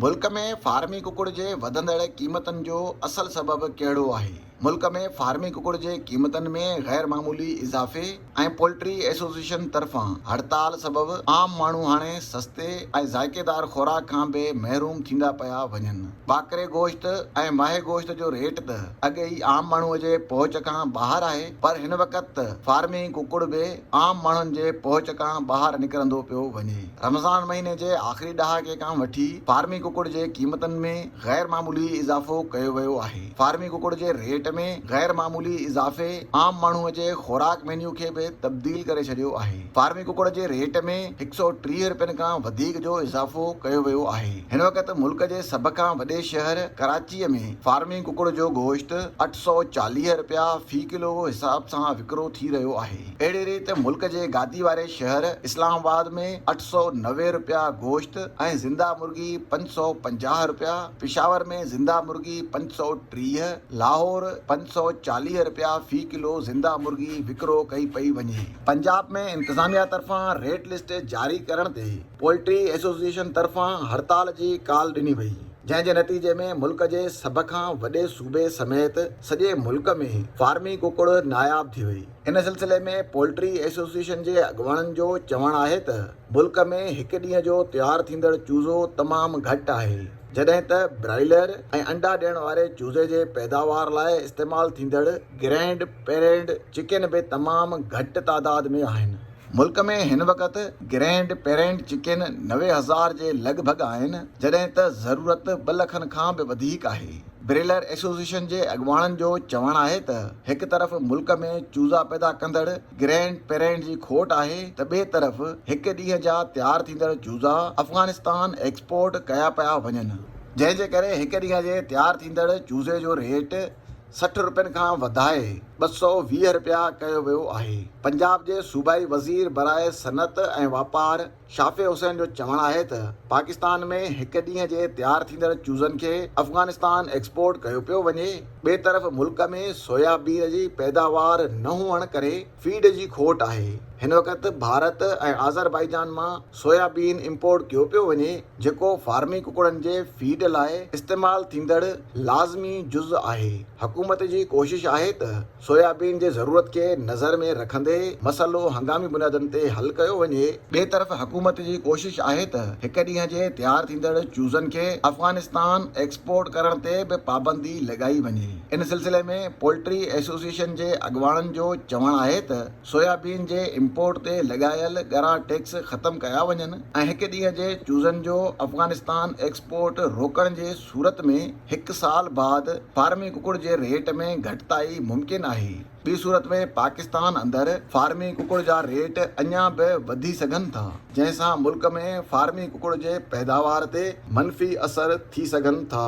ملڪ ۾ فارمي ڪڪڙ جي وڌندڙ قيمتن جو اصل سبب ڪهڙو آهي؟ ملڪ ۾ فارمي ڪڪڙ جي قيمتن ۾ غير معمولي اضافي ۽ پولٽري ايسوسيئيشن طرفان هڙتال سبب عام ماڻهو هاڻي سستي ۽ ذائقيدار خوراڪ کان به محروم ٿيندا پيا وڃن. ٻاڪري گوشت ۽ ماهي گوشت جو ريٽ ته اڳ ئي عام ماڻهو جي پهچ کان ٻاهر آهي پر هن وقت ته فارمي ڪڪڙ به عام ماڻهن جي پهچ کان ٻاهر نڪرندو پيو وڃي. رمضان مهيني جي آخري ڏهاڪي کان وٺي فارمي ڪڪڙ جي قيمتن ۾ غير معمولي اضافو ڪيو ويو آهي، فارمي ڪڪڙ جي ريٽ ۾ غير معمولي اضافي عام ماڻهو جي خوراڪ مينيو کي به تبديل ڪري ڇڏيو آهي، فارمي ڪڪڙ جي ريٽ ۾ هڪ سؤ ٽيهه رپين کان وڌيڪ جو اضافو ڪيو ويو آهي، هن وقت ملڪ جي سڀ کان وڏي شهر ڪراچي ۾ فارمي ڪڪڙ جو گوشت اٺ سؤ چاليهه رپيا في ڪلو حساب سان وڪرو ٿي رهيو آهي. اهڙي ريت ملڪ جي گادي واري شهر اسلام آباد ۾ اٺ سؤ نوي رپيا گوشت ۽ زنده مرغي پنج سؤ پنجاهه رپيا، پشاور ۾ زنده مرغي پنج سؤ ٽيهه، لاهور پنج سؤ چاليهه رپيا في ڪلو زنده مرغي وڪرو ڪئي پئي وڃي. پنجاب ۾ انتظاميا طرفان ريٽ لسٽ جاري ڪرڻ تي پولٽري ايسوسيئيشن طرفان هڙتال جي ڪال ڏني وئي جنهن جي نتيجي ۾ ملڪ جي سڀ کان وڏي صوبي سميت سڄي ملڪ ۾ فارمي ڪڪڙ ناياب ٿي وئي. ان سلسلي ۾ پولٽري ايسوسيئيشن جي اڳواڻن جو چوڻ آهي ته ملڪ ۾ هڪ ڏينهن جو تيار ٿيندڙ چوزو تمام گهٽ آهي جڏهن ته برائيلر ۽ انڊا ڏيڻ واري چوزي جي پيداوار لاء استعمال ٿيندڙ گرينڊ پيرينڊ چڪن به تمام گهٽ تعداد ۾ آهن. ملڪ ۾ هن وقت گرينڊ پيرنٽ چڪين نوي هزار جي لڳ ڀڳ آهن، جڏهن ته ضرورت ٻه لکن کان به وڌيڪ آهي. بريلر ايسوسيئيشن جي اڳواڻن جو چوڻ آهي ته هڪ طرف ملڪ ۾ چوزا پيدا ڪندڙ گرينڊ پيرنٽ جي کوٽ آهي ته ٻئي طرف هڪ ڏينهن جا تيار ٿيندڙ چوزا افغانستان ايڪسپورٽ ڪيا پيا وڃن، جنهن جي ڪري هڪ ڏينهن جي تيار ٿيندڙ چوزي جو ريٽ سٺ رپين کان وڌائي ٻه سؤ ويهه رپيا ڪيو ويو آهي. پنجاب جي صوبائي وزير برائي صنعت ۽ واپار شافع حسين جو چوڻ آهي ته پاڪستان ۾ هڪ ڏينهن جي تيار ٿيندڙ چوزن کي افغانستان ايڪسپورٽ ڪيو پيو وڃي ٻئي طرف ملڪ ۾ سويا بين جي پيداوار نه هئڻ ڪري فيڊ جي کوٽ آهي. هن وقت ڀارت ۽ آذربائيجان مان سويابين امپورٽ ڪيو پيو وڃي جيڪو فارمي ڪڪڙن جي فيڊ لاء استعمال ٿيندڙ لازمي جز آهي. حڪومت جي ڪوشش آهي ته سويابين جي ضرورت کي نظر ۾ رکندي مسئلو هنگامي بنيادن تي حل ڪيو وڃي، ٻئي طرف حڪومت جي ڪوشش آهي ته هڪ ڏينهن جي تيار ٿيندڙ چوزن کي افغانستان ايڪسپورٽ ڪرڻ تي به پابندي لڳائي وڃي. ان سلسلي ۾ پولٽري ايسوسيئيشن جي اڳواڻن جو چوڻ آهي ته سويابين جي امپورٽ تي لڳايل ڳرا ٽيڪس ختم ڪيا وڃن ۽ هڪ ڏينهن جي چوزن جو افغانستان ايڪسپورٽ روڪڻ جي صورت ۾ هڪ سال بعد فارمي ڪڪڙ جي ريٽ ۾ گهٽتائي ممڪن آهي ٻي صورت ۾ پاڪستان اندر فارمي ڪڪڙ جا ريٽ اڃا به وڌي سگهن ٿا جنهن سان ملڪ ۾ فارمي ڪڪڙ جي پيداوار تي منفي اثر ٿي سگهن ٿا.